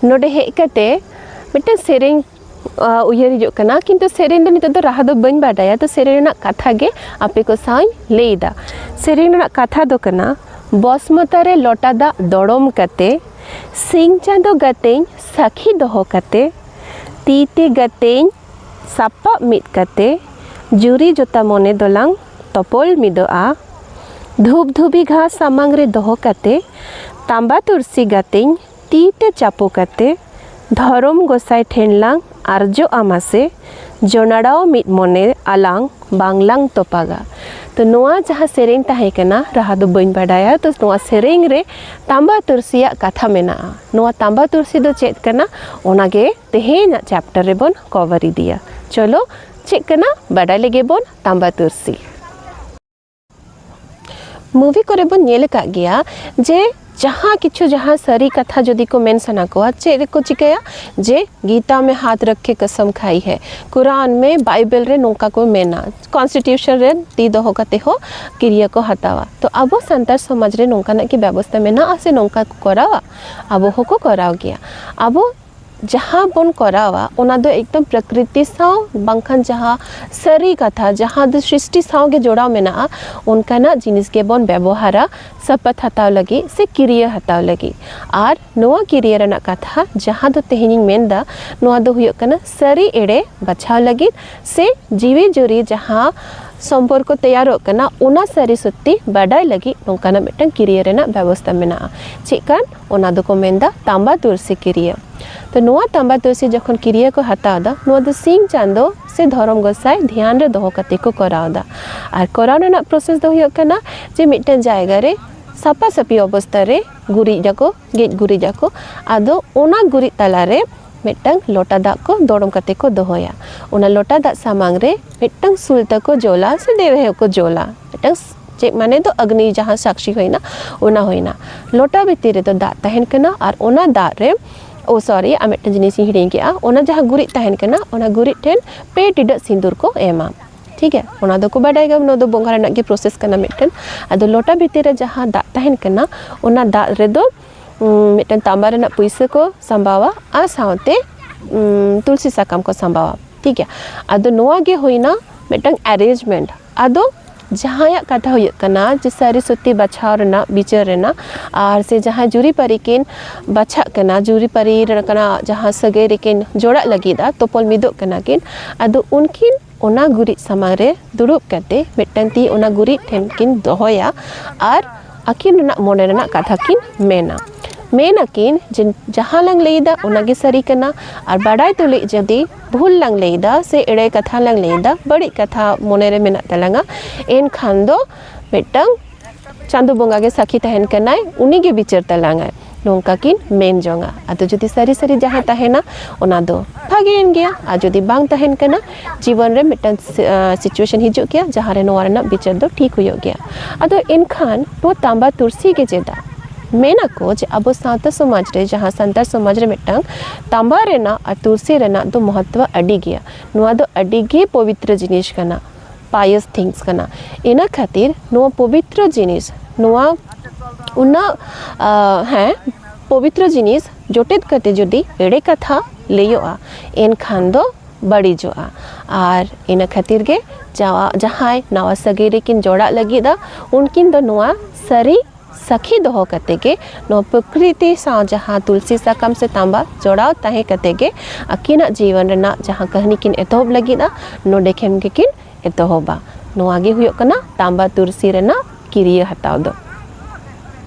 ᱱᱚᱰᱮ ᱦᱮᱡ ᱠᱟᱛᱮ ᱢᱤᱫᱴᱟᱝ ᱥᱮᱨᱮᱧ ᱩᱭᱦᱟᱹᱨ ᱦᱤᱡᱩᱜ ᱠᱟᱱᱟ ᱠᱤᱱᱛᱩ ᱥᱮᱨᱮᱧ ᱫᱚ ᱱᱤᱛᱚᱜ ᱫᱚ ᱨᱟᱦᱟ ᱫᱚ ᱵᱟᱹᱧ ᱵᱟᱰᱟᱭᱟ ᱛᱚ ᱥᱮᱨᱮᱧ ᱨᱮᱱᱟᱜ ᱠᱟᱛᱷᱟ ᱜᱮ ᱟᱯᱮ ᱠᱚ ᱥᱟᱶᱤᱧ ᱞᱟᱹᱭᱫᱟ ᱥᱮᱨᱮᱧ ᱨᱮᱱᱟᱜ ᱠᱟᱛᱷᱟ ᱫᱚ ᱠᱟᱱᱟ ᱵᱚᱥᱢᱚᱛᱟ ᱨᱮ ᱞᱚᱴᱟ ᱫᱟᱜ ᱫᱚᱲᱚᱢ ᱠᱟᱛᱮ ᱥᱤᱧ ᱪᱟᱸᱫᱚ ᱜᱟᱛᱮᱧ ᱥᱟᱹᱠᱷᱤ ᱫᱚᱦᱚ ᱠᱟᱛᱮ ᱛᱤ ᱛᱮ ᱜᱟᱛᱮᱧ ᱥᱟᱯᱟᱵ ᱢᱤᱫ ᱠᱟᱛᱮ ᱡᱩᱨᱤ ᱡᱚᱛᱟ ᱢᱚᱱᱮ ᱫᱚᱞᱟᱝ ᱛᱚᱯᱚᱞ ᱢᱤᱫᱚᱜᱼᱟ᱾ ᱫᱷᱩᱯ ᱫᱷᱩᱵᱤ ᱜᱷᱟᱸᱥ ᱥᱟᱢᱟᱝ ᱨᱮ ᱫᱚᱦᱚ ᱠᱟᱛᱮ ᱛᱟᱸᱵᱟ ᱛᱩᱨᱥᱤ ᱜᱟᱛᱮᱧ ᱛᱤ ᱛᱮ ᱪᱟᱯᱚ ᱠᱟᱛᱮ ᱫᱷᱚᱨᱚᱢ ᱜᱚᱸᱥᱟᱭ ᱴᱷᱮᱱ ᱞᱟᱝ ᱟᱨᱡᱚᱜᱼᱟ ᱢᱟᱥᱮ ᱡᱚᱱᱟᱲᱟᱣ ᱢᱤᱫ ᱢᱚᱱᱮ ᱟᱞᱟᱝ ᱵᱟᱝ ᱞᱟᱝ ᱛᱚᱯᱟᱜᱟ᱾ ᱛᱚ ᱱᱚᱣᱟ ᱡᱟᱦᱟᱸ ᱥᱮᱨᱮᱧ ᱛᱟᱦᱮᱸ ᱠᱟᱱᱟ ᱨᱟᱦᱟ ᱫᱚ ᱵᱟᱹᱧ ᱵᱟᱰᱟᱭᱟ ᱛᱚ ᱱᱚᱣᱟ ᱥᱮᱨᱮᱧ ᱨᱮ ᱛᱟᱢᱵᱟ ᱛᱩᱨᱥᱤᱭᱟᱜ ᱠᱟᱛᱷᱟ ᱢᱮᱱᱟᱜᱼᱟ ᱱᱚᱣᱟ ᱛᱟᱢᱵᱟ ᱛᱩᱨᱥᱤ ᱫᱚ ᱪᱮᱫ ᱠᱟᱱᱟ ᱚᱱᱟ ᱜᱮ ᱛᱮᱦᱮᱧᱟᱜ ᱪᱮᱯᱴᱟᱨ ᱨᱮᱵᱚᱱ ᱠᱚᱵᱷᱟᱨ ᱤᱫᱤᱭᱟ ᱪᱚᱞᱚ ᱪᱮᱫ ᱠᱟᱱᱟ ᱵᱟᱰᱟᱭ ᱞᱮᱜᱮ ᱵᱚᱱ ᱛᱟᱢᱵᱟ ᱛᱩᱨᱥᱤ ᱢᱩᱵᱷᱤ ᱠᱚᱨᱮ ᱵᱚᱱ ᱧᱮᱞ ᱟᱠᱟᱫ ᱜᱮᱭᱟ ᱡᱮ ᱡᱟᱦᱟᱸ ᱠᱤᱪᱷᱩ ᱡᱟᱦᱟᱸ ᱥᱟᱹᱨᱤ ᱠᱟᱛᱷᱟ ᱡᱩᱫᱤ ᱠᱚ ᱢᱮᱱ ᱥᱟᱱᱟ ᱠᱚᱣᱟ ᱪᱮᱫ ᱨᱮᱠᱚ ᱪᱤᱠᱟᱹᱭᱟ ᱡᱮ ᱜᱤᱛᱟ ᱢᱮ ᱦᱟᱛ ᱨᱟᱠᱷᱮ ᱠᱟᱥᱟᱢ ᱠᱷᱟᱭ ᱦᱮ ᱠᱩᱨᱟᱱ ᱢᱮ ᱵᱟᱭᱵᱮᱞ ᱨᱮ ᱱᱚᱝᱠᱟ ᱠᱚ ᱢᱮᱱᱟ ᱠᱚᱱᱥᱴᱤᱴᱤᱭᱩᱥᱚᱱ ᱨᱮ ᱛᱤ ᱫᱚᱦᱚ ᱠᱟᱛᱮ ᱦᱚᱸ ᱠᱤᱨᱭᱟᱹ ᱠᱚ ᱦᱟᱛᱟᱣᱟ ᱛᱚ ᱟᱵᱚ ᱥᱟᱱᱛᱟᱲ ᱥᱚᱢᱟᱡᱽ ᱨᱮ ᱱᱚᱝᱠᱟᱱᱟᱜ ᱠᱤ ᱵᱮᱵᱚᱥᱛᱟ ᱢᱮᱱᱟᱜᱼᱟ ᱥᱮ ᱱᱚᱝᱠᱟ ᱠᱚ ᱠᱚᱨᱟᱣᱟ ᱟᱵᱚ ᱦᱚᱸᱠᱚ ᱠᱚᱨᱟᱣ ᱜᱮᱭᱟ ᱟᱵᱚ ᱡᱟᱦᱟᱸ ᱵᱚᱱ ᱠᱚᱨᱟᱣᱟ ᱚᱱᱟ ᱫᱚ ᱮᱠᱫᱚᱢ ᱯᱨᱚᱠᱨᱤᱛᱤ ᱥᱟᱶ ᱵᱟᱝᱠᱷᱟᱱ ᱡᱟᱦᱟᱸ ᱥᱟᱹᱨᱤ ᱠᱟᱛᱷᱟ ᱡᱟᱦᱟᱸ ᱫᱚ ᱥᱨᱤᱥᱴᱤ ᱥᱟᱶ ᱜᱮ ᱡᱚᱲᱟᱣ ᱢᱮᱱᱟᱜᱼᱟ ᱚᱱᱠᱟᱱᱟᱜ ᱡᱤᱱᱤᱥ ᱜᱮᱵᱚᱱ ᱵᱮᱵᱚᱦᱟᱨᱟ ᱥᱟᱯᱟᱛ ᱦᱟᱛᱟᱣ ᱞᱟᱹᱜᱤᱫ ᱥᱮ ᱠᱤᱨᱭᱟᱹ ᱦᱟᱛᱟᱣ ᱞᱟᱹᱜᱤᱫ ᱟᱨ ᱱᱚᱣᱟ ᱠᱤᱨᱤᱭᱟᱹ ᱨᱮᱱᱟᱜ ᱠᱟᱛᱷᱟ ᱡᱟᱦᱟᱸ ᱫᱚ ᱛᱮᱦᱮᱧ ᱤᱧ ᱢᱮᱱ ᱮᱫᱟ ᱱᱚᱣᱟ ᱫᱚ ᱦᱩᱭᱩᱜ ᱠᱟᱱᱟ ᱥᱟᱹᱨᱤ ᱮᱲᱮ ᱵᱟᱪᱷᱟᱣ ᱞᱟᱹᱜᱤᱫ ᱥᱮ ᱡᱤᱣᱤ ᱡᱩᱨᱤ ᱡᱟᱦᱟᱸ ᱥᱚᱢᱯᱚᱨᱠᱚ ᱛᱮᱭᱟᱨᱚᱜ ᱠᱟᱱᱟ ᱚᱱᱟ ᱥᱟᱹᱨᱤ ᱥᱚᱛᱛᱤ ᱵᱟᱰᱟᱭ ᱞᱟᱹᱜᱤᱫ ᱱᱚᱝᱠᱟᱱᱟᱜ ᱢᱤᱫᱴᱟᱝ ᱠᱤᱨᱤᱭᱟᱹ ᱨᱮᱱᱟᱜ ᱵᱮᱵᱚᱥᱛᱟ ᱢᱮᱱᱟᱜᱼᱟ ᱪᱮᱫ ᱠᱟᱱ ᱚᱱᱟ ᱫᱚᱠᱚ ᱢᱮᱱ ᱮᱫᱟ ᱛᱟᱸᱵᱟ ᱛᱩᱨᱥᱤ ᱠᱤᱨᱤᱭᱟᱹ ᱛᱚ ᱱᱚᱣᱟ ᱛᱟᱸᱵᱟ ᱛᱩᱨᱥᱤ ᱡᱚᱠᱷᱚᱱ ᱠᱤᱨᱤᱭᱟᱹ ᱠᱚ ᱦᱟᱛᱟᱣ ᱮᱫᱟ ᱱᱚᱣᱟ ᱫᱚ ᱥᱤᱧ ᱪᱟᱸᱫᱚ ᱥᱮ ᱫᱷᱚᱨᱚᱢ ᱜᱚᱸᱥᱟᱭ ᱫᱷᱮᱭᱟᱱ ᱨᱮ ᱫᱚᱦᱚ ᱠᱟᱛᱮ ᱠᱚ ᱠᱚᱨᱟᱣ ᱮᱫᱟ ᱟᱨ ᱠᱚᱨᱟᱣ ᱨᱮᱱᱟᱜ ᱯᱨᱚᱥᱮᱥ ᱫᱚ ᱦᱩᱭᱩᱜ ᱠᱟᱱᱟ ᱡᱮ ᱢᱤᱫᱴᱟᱝ ᱡᱟᱭᱜᱟ ᱨᱮ ᱥᱟᱯᱷᱟ ᱥᱟᱹᱯᱷᱤ ᱚᱵᱚᱥᱛᱟ ᱨᱮ ᱜᱩᱨᱤᱡ ᱟᱠᱚ ᱜᱮᱡ ᱜᱩᱨᱤᱡ ᱟᱠᱚ ᱟᱫᱚ ᱚᱱᱟ ᱜᱩᱨᱤᱡ ᱛᱟᱞᱟ ᱨᱮ ᱢᱤᱫᱴᱟᱝ ᱞᱚᱴᱟ ᱫᱟᱜ ᱠᱚ ᱫᱚᱲᱚᱢ ᱠᱟᱛᱮ ᱠᱚ ᱫᱚᱦᱚᱭᱟ ᱚᱱᱟ ᱞᱚᱴᱟ ᱫᱟᱜ ᱥᱟᱢᱟᱝ ᱨᱮ ᱢᱤᱫᱴᱟᱝ ᱥᱩᱞ ᱛᱟᱠᱚ ᱡᱳᱞᱟ ᱥᱮ ᱫᱮᱣᱦᱮ ᱦᱚᱸᱠᱚ ᱡᱳᱞᱟ ᱢᱤᱫᱴᱟᱝ ᱪᱮᱫ ᱢᱟᱱᱮ ᱫᱚ ᱟᱜᱽᱱᱤ ᱡᱟᱦᱟᱸ ᱥᱟᱠᱥᱤ ᱦᱩᱭᱮᱱᱟ ᱚᱱᱟ ᱦᱩᱭᱮᱱᱟ ᱞᱚᱴᱟ ᱵᱷᱤᱛᱤᱨ ᱨᱮᱫᱚ ᱫᱟᱜ ᱛᱟᱦᱮᱱ ᱠᱟᱱᱟ ᱟᱨ ᱚᱱᱟ ᱫᱟᱜ ᱨᱮ ᱳ ᱥᱚᱨᱤ ᱟᱨ ᱢᱤᱫᱴᱟᱝ ᱡᱤᱱᱤᱥ ᱤᱧ ᱦᱤᱲᱤᱧ ᱠᱮᱜᱼᱟ ᱚᱱᱟ ᱡᱟᱦᱟᱸ ᱜᱩᱨᱤᱡ ᱛᱟᱦᱮᱱ ᱠᱟᱱᱟ ᱚᱱᱟ ᱜᱩᱨᱤᱡ ᱴᱷᱮᱱ ᱯᱮ ᱴᱤᱰᱟᱹᱜ ᱥᱤᱸᱫᱩᱨ ᱠᱚ ᱮᱢᱟ ᱴᱷᱤᱠ ᱜᱮᱭᱟ ᱚᱱᱟ ᱫᱚᱠᱚ ᱵᱟᱰᱟᱭ ᱜᱮᱭᱟ ᱚᱱᱟ ᱫᱚ ᱵᱚᱸᱜᱟ ᱨᱮᱱᱟᱜ ᱜᱮ ᱯᱨᱚᱥᱮᱥ ᱠᱟᱱᱟ ᱢᱤᱫᱴᱮᱱ ᱟᱫᱚ ᱞᱚᱴᱟ ᱵᱷᱤᱛᱤᱨ ᱨᱮ ᱡᱟᱦᱟᱸ ᱫᱟᱜ ᱛᱟᱦᱮᱱ ᱠᱟᱱᱟ ᱚᱱᱟ ᱫᱟᱜ ᱨᱮᱫᱚ ᱢᱤᱫᱴᱮᱱ ᱛᱟᱢᱵᱟ ᱨᱮᱱᱟᱜ ᱯᱩᱭᱥᱟᱹ ᱠᱚ ᱥᱟᱢᱵᱟᱣᱟ ᱟᱨ ᱥᱟᱶᱛᱮ ᱛᱩᱞᱥᱤ ᱥᱟᱠᱟᱢ ᱠᱚ ᱥᱟᱢᱵᱟᱣᱟ ᱴᱷᱤᱠ ᱜᱮᱭᱟ ᱟᱫᱚ ᱱᱚᱣᱟ ᱜᱮ ᱦᱩᱭᱱᱟ ᱢᱤᱫᱴᱟᱝ ᱮᱨᱮᱡᱽᱢᱮᱱᱴ ᱟᱫᱚ ᱡᱟᱦᱟᱸᱭᱟᱜ ᱠᱟᱛᱷᱟ ᱦᱩᱭᱩᱜ ᱠᱟᱱᱟ ᱡᱮ ᱥᱟᱹᱨᱤ ᱥᱚᱛᱛᱤ ᱵᱟᱪᱷᱟᱣ ᱨᱮᱱᱟᱜ ᱵᱤᱪᱟᱹᱨ ᱨᱮᱱᱟᱜ ᱟᱨ ᱥᱮ ᱡᱟᱦᱟᱸᱭ ᱡᱩᱨᱤᱼᱯᱟᱹᱨᱤ ᱠᱤᱱ ᱵᱟᱪᱷᱟᱜ ᱠᱟᱱᱟ ᱡᱩᱨᱤᱯᱟᱹᱨᱤ ᱞᱮᱠᱟᱱᱟᱜ ᱡᱟᱦᱟᱸ ᱥᱟᱹᱜᱟᱹᱭ ᱨᱮᱠᱤᱱ ᱡᱚᱲᱟᱜ ᱞᱟᱹᱜᱤᱫᱼᱟ ᱛᱚᱯᱚᱞ ᱢᱤᱫᱚᱜ ᱠᱟᱱᱟ ᱠᱤᱱ ᱟᱫᱚ ᱩᱱᱠᱤᱱ ᱚᱱᱟ ᱜᱩᱨᱤᱡ ᱥᱟᱢᱟᱝ ᱨᱮ ᱫᱩᱲᱩᱵ ᱠᱟᱛᱮ ᱢᱤᱫᱴᱟᱝ ᱛᱤ ᱚᱱᱟ ᱜᱩᱨᱤᱡ ᱴᱷᱮᱱ ᱠᱤᱱ ᱫᱚᱦᱚᱭᱟ ᱟᱨ ᱟᱹᱠᱤᱱ ᱨᱮᱱᱟᱜ ᱢᱚᱱᱮ ᱨᱮᱱᱟᱜ ᱠᱟᱛᱷᱟ ᱠᱤᱱ ᱢᱮᱱᱟ ᱢᱮᱱ ᱟᱹᱠᱤᱱ ᱡᱮ ᱡᱟᱦᱟᱸ ᱞᱟᱝ ᱞᱟᱹᱭᱮᱫᱟ ᱚᱱᱟ ᱜᱮ ᱥᱟᱹᱨᱤ ᱠᱟᱱᱟ ᱟᱨ ᱵᱟᱰᱟᱭ ᱛᱩᱞᱩᱡ ᱡᱩᱫᱤ ᱵᱷᱩᱞ ᱞᱟᱝ ᱞᱟᱹᱭᱮᱫᱟ ᱥᱮ ᱮᱲᱮ ᱠᱟᱛᱷᱟ ᱞᱟᱝ ᱞᱟᱹᱭᱮᱫᱟ ᱵᱟᱹᱲᱤᱡ ᱠᱟᱛᱷᱟ ᱢᱚᱱᱮ ᱨᱮ ᱢᱮᱱᱟᱜ ᱛᱟᱞᱟᱝᱟ ᱮᱱᱠᱷᱟᱱ ᱫᱚ ᱢᱤᱫᱴᱟᱝ ᱪᱟᱸᱫᱚ ᱵᱚᱸᱜᱟ ᱜᱮ ᱥᱟᱹᱠᱷᱤ ᱛᱟᱦᱮᱱ ᱠᱟᱱᱟᱭ ᱩᱱᱤ ᱜᱮ ᱵᱤᱪᱟᱹᱨ ᱛᱟᱞᱟᱝᱟᱭ ᱱᱚᱝᱠᱟ ᱠᱤᱱ ᱢᱮᱱ ᱡᱚᱝᱟ ᱟᱫᱚ ᱡᱩᱫᱤ ᱥᱟᱹᱨᱤ ᱥᱟᱹᱨᱤ ᱡᱟᱦᱟᱸ ᱛᱟᱦᱮᱱᱟ ᱚᱱᱟ ᱫᱚ ᱵᱷᱟᱜᱮᱭᱮᱱ ᱜᱮᱭᱟ ᱟᱨ ᱡᱩᱫᱤ ᱵᱟᱝ ᱛᱟᱦᱮᱱ ᱠᱟᱱᱟ ᱡᱤᱵᱚᱱ ᱨᱮ ᱢᱤᱫᱴᱟᱝ ᱥᱤᱪᱩᱭᱮᱥᱚᱱ ᱦᱤᱡᱩᱜ ᱜᱮᱭᱟ ᱡᱟᱦᱟᱸ ᱨᱮ ᱱᱚᱣᱟ ᱨᱮᱱᱟᱜ ᱵᱤᱪᱟᱹᱨ ᱫᱚ ᱴᱷᱤᱠ ᱦᱩᱭᱩᱜ ᱜᱮᱭᱟ ᱟᱫᱚ ᱮᱱᱠᱷᱟᱱ ᱱᱚᱣᱟ ᱛᱟᱸᱵᱟ ᱛᱩᱨᱥᱤ ᱜᱮ ᱪᱮᱫᱟᱜ ᱢᱮᱱᱟᱠᱚ ᱡᱮ ᱟᱵᱚ ᱥᱟᱶᱛᱟ ᱥᱚᱢᱟᱡᱽ ᱨᱮ ᱡᱟᱦᱟᱸ ᱥᱟᱱᱛᱟᱲ ᱥᱚᱢᱟᱡᱽ ᱨᱮ ᱢᱤᱫᱴᱟᱝ ᱛᱟᱸᱵᱟ ᱨᱮᱱᱟᱜ ᱟᱨ ᱛᱩᱨᱥᱤ ᱨᱮᱱᱟᱜ ᱫᱚ ᱢᱚᱦᱚᱛᱛᱚ ᱟᱹᱰᱤ ᱜᱮᱭᱟ ᱱᱚᱣᱟ ᱫᱚ ᱟᱹᱰᱤ ᱜᱮ ᱯᱚᱵᱤᱛᱨᱚ ᱡᱤᱱᱤᱥ ᱠᱟᱱᱟ ᱯᱟᱭᱚᱥ ᱛᱷᱤᱝᱥ ᱠᱟᱱᱟ ᱤᱱᱟᱹ ᱠᱷᱟᱹᱛᱤᱨ ᱱᱚᱣᱟ ᱯᱚᱵᱤᱛᱨᱚ ᱡᱤᱱᱤᱥ ᱱᱚᱣᱟ ᱩᱱᱟᱹᱜ ᱦᱮᱸ ᱯᱚᱵᱤᱛᱨᱚ ᱡᱤᱱᱤᱥ ᱡᱚᱴᱮᱫ ᱠᱟᱛᱮ ᱡᱩᱫᱤ ᱮᱲᱮ ᱠᱟᱛᱷᱟ ᱞᱟᱹᱭᱚᱜᱼᱟ ᱮᱱᱠᱷᱟᱱ ᱫᱚ ᱵᱟᱹᱲᱤᱡᱚᱜᱼᱟ ᱟᱨ ᱤᱱᱟᱹ ᱠᱷᱟᱹᱛᱤᱨ ᱜᱮ ᱡᱟᱣᱟ ᱡᱟᱦᱟᱸᱭ ᱱᱟᱣᱟ ᱥᱟᱹᱜᱟᱹᱭ ᱨᱮᱠᱤᱱ ᱡᱚᱲᱟᱜ ᱞᱟᱹᱜᱤᱫᱼᱟ ᱩᱱᱠᱤᱱ ᱫᱚ ᱱᱚᱣᱟ ᱥᱟᱹᱨᱤ ᱥᱟᱹᱠᱷᱤ ᱫᱚᱦᱚ ᱠᱟᱛᱮ ᱜᱮ ᱱᱚᱣᱟ ᱯᱨᱚᱠᱨᱤᱛᱤ ᱥᱟᱶ ᱡᱟᱦᱟᱸ ᱛᱩᱞᱥᱤ ᱥᱟᱠᱟᱢ ᱥᱮ ᱛᱟᱢᱵᱟ ᱡᱚᱲᱟᱣ ᱛᱟᱦᱮᱸ ᱠᱟᱛᱮ ᱜᱮ ᱟᱹᱠᱤᱱᱟᱜ ᱡᱤᱭᱚᱱ ᱨᱮᱱᱟᱜ ᱡᱟᱦᱟᱸ ᱠᱟᱹᱦᱱᱤ ᱠᱤᱱ ᱮᱛᱚᱦᱚᱵ ᱞᱟᱹᱜᱤᱫᱼᱟ ᱱᱚᱰᱮ ᱠᱷᱚᱱ ᱜᱮᱠᱤᱱ ᱮᱛᱚᱦᱚᱵᱟ ᱱᱚᱣᱟ ᱜᱮ ᱦᱩᱭᱩᱜ ᱠᱟᱱᱟ ᱛᱟᱢᱵᱟ ᱛᱩᱞᱥᱤ ᱨᱮᱱᱟᱜ ᱠᱤᱨᱭᱟᱹ ᱦᱟᱛᱟᱣ ᱫᱚ